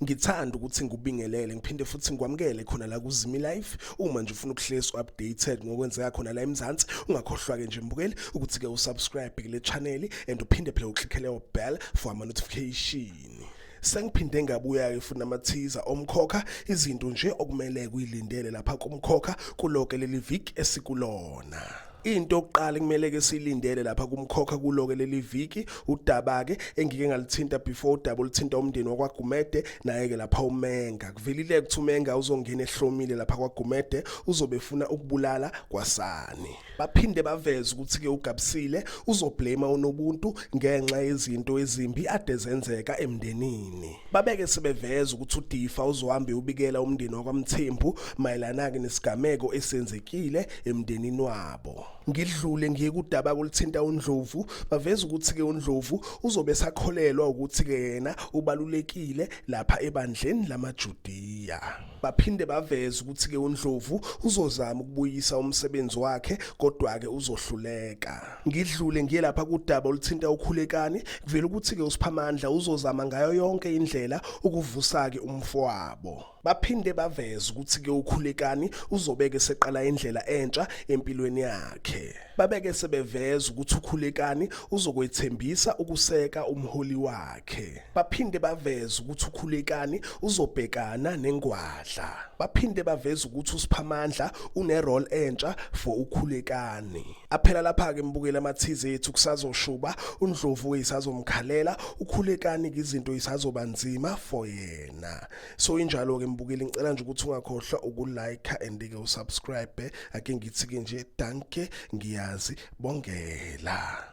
ngithanda ukuthi ngikubingelele ngiphinde futhi ngikwamukele khona la kuzimi life uma nje ufuna ukuhlezi updated ngokwenzeka khona la eMzansi ungakhohlwa ke nje mbukeli ukuthi ke usubscribe kule channel and uphinde phela uklikhele u bell for ama notification sengiphinde ngabuya-ke futhi namathiza omkhokha izinto nje okumele kuyilindele lapha kumkhokha kuloke leli viki esikulona Into okuqala kumele ke silindele lapha kumkhokha kuloke leli viki udaba ke engike ngalithinta before udaba olithinta umndeni wakwaGumede naye ke lapha uMenga kuvelile ukuthi uMenga uzongena ehlomile lapha kwaGumede uzobefuna ukubulala kwasani baphinde baveze ukuthi ke ugabisile uzoblame unobuntu ngenxa yezinto ezimbi ade zenzeka emndenini Babeke sebeveza ukuthi uDifa uzohambe ubikela umndeni wakwaMthembu mayelana ke nesigameko esenzekile emndenini wabo. Ngidlule ngiye kudaba kulithinta uNdlovu baveza ukuthi ke uNdlovu uzobe sakholelwa ukuthi ke yena ubalulekile lapha ebandleni lamaJudiya. Baphinde baveza ukuthi-ke uNdlovu uzozama ukubuyisa umsebenzi wakhe kodwa-ke uzohluleka. Ngidlule ngiye lapha kudaba oluthinta uKhulekani kuvela ukuthi-ke uSiphamandla uzozama ngayo yonke indlela ukuvusa-ke umfowabo. Baphinde baveza ukuthi-ke uKhulekani uzobeke seqala indlela entsha empilweni yakhe. Babeke sebeveza ukuthi uKhulekani uzokwethembisa ukuseka umholi wakhe. baphinde baveze ukuthi ukhulekani uzobhekana nengwadla baphinde baveze ukuthi usiphamandla une role entsha for ukhulekani aphela lapha ke mbukela amathize ethu kusazoshuba undlovu uyisazomkhalela ukhulekani izinto isazoba nzima for yena so injalo ke mbukeli ngicela nje ukuthi ungakhohlwa ukulike and ke usubscribe ake ngithi ke nje danke ngiyazi bongela